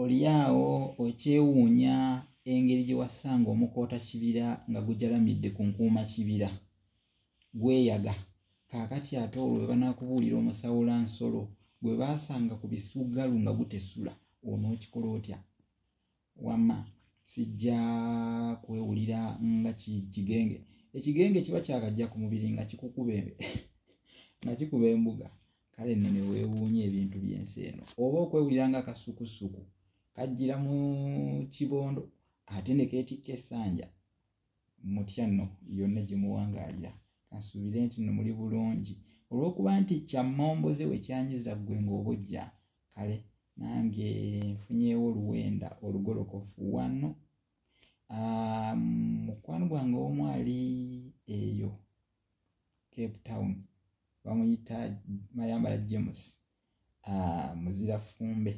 olyawo okyewuunya engeri gye wassanga omukoota kibira nga gujalamidde ku nkuuma kibira gweyaga kaakati ate olwo bwe banakubuulira omusawula nsolo gwe baasanga ku bisuggalu nga gutesula onookikola otya wama sijja kwewulira nga kigenge ekigenge kiba kyakajja ku mubiri nga kikukuba nga kikuba embuga kale nno ne weewuunya ebintu by'ensi eno oba okwewulira nga akasukusuku kajjira mu kibondo ate ne keetikka essanja mutya nno yonna gye muwangaalira kansuubire nti nno muli bulungi olw'okuba nti kyammomboze we kyanyiza ggwe ng'obujja kale nange nfunyewo oluwenda olugolokofu wano ah, mukwano gwange omu ali eyo cape town bamuyita mayambala james ah, muzira fumbe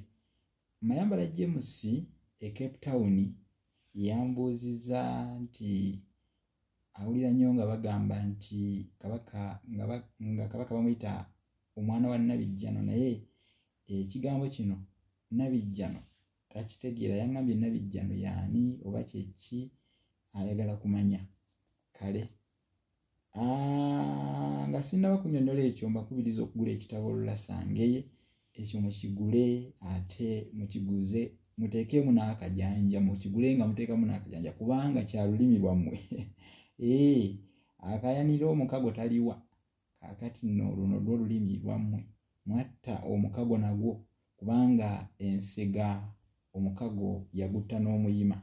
mayambala james e cape town yambuuziza nti awulira nnyo nga bagamba nti kabaka nga kabaka bamuyita omwana wa nabijjano naye ekigambo kino nabijjano takitegeera yangambye nabijjano yaani oba kyeki ayagala kumanya kale nga sinaba kunyonyola ekyo mbakubiriza okugula ekitabo olulasangeye ekyo mukigule ate mukiguze muteekemu n'akajanja mukigule nga muteekamu n'akajanja kubanga kya lulimi lwammwe ee eh, akayanira omukago taliwa kakati nno luno lwo lulimi lwammwe mwatta omukago nagwo kubanga ensega omukago yagutta n'omuyima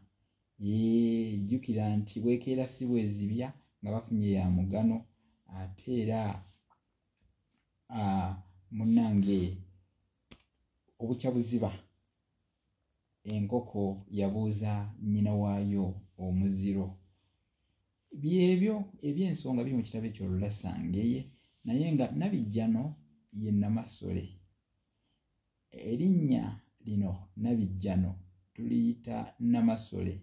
ee eh, jjukira nti bwekeera si bwezibya nga bafunye ya mugano ate era ah, munange obukya buziba enkoko yabuuza nnyina waayo omuziro byebyo ebyensonga biri mu kitabo ekyo lulasangeye naye nga nabijjano ye namasole erinnya lino nabijjano tuliyita namasole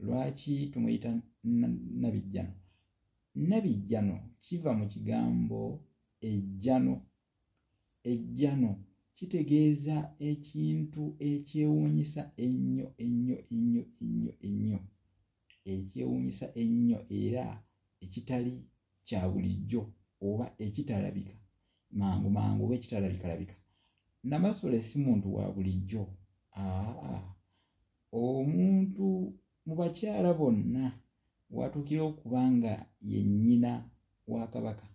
lwaki tumuyita nabijjano nabijjano kiva mu kigambo ejjano ejjano kitegeeza ekintu ekyewuunyisa ennyo ennyo ennyo ennyo ennyo ekyewuunyisa ennyo era ekitali kya bulijjo oba ekitalabika mangu mangu oba ekitalabikalabika namasole si muntu wa bulijjo aa omuntu mu bakyala bonna watuukira okuba nga ye nnyina wa kabaka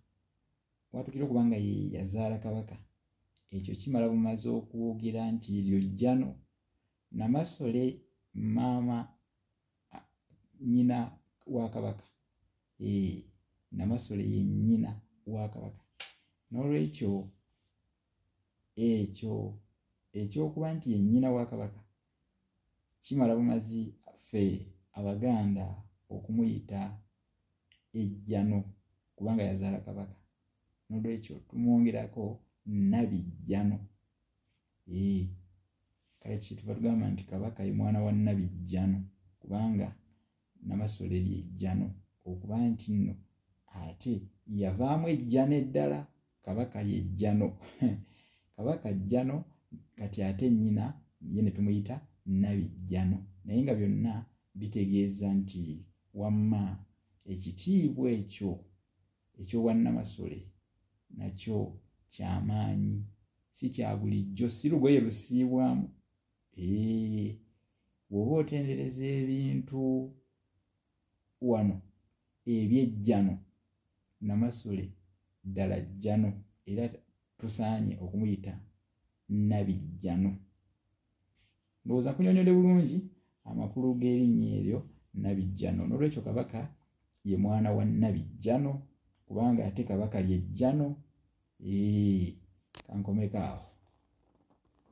watuukira okuba nga ye yazaala kabaka ekyo kimala bumaze okwogera nti eryo jjano namasole maama nnyina wa kabaka ee namasole ye nnyina wa kabaka n'olwekyo ekyo ekyokuba nti ye nnyina wa kabaka kimala bumazi ffe abaganda okumuyita ejjano kubanga yazaala kabaka nolwekyo tumwongerako nabijjano ee kale kyetuva tugamba nti kabaka ye mwana wa nabijjano kubanga namasole lyejjano okuba nti nno ate yavaamu ejjano eddala kabaka lyejjano kabaka jjano kati ate nnyina ye ne tumuyita nabijjano naye nga byonna bitegeeza nti wamma ekitiibwa ekyo ekyobwannamasole nakyo kyamaanyi si kya bulijjo si lugoye lusiibwamu bw'oba otendereza ebintu wano ebyejjano namasule ddala jjano era tusaanye okumuyita nabijjano ndowooza kunyonyode bulungi amakulu g'erinnya eryo nabijjano n'olwekyo kabaka ye mwana wa nabijjano kubanga ate kabaka lyejjano kankomeko awo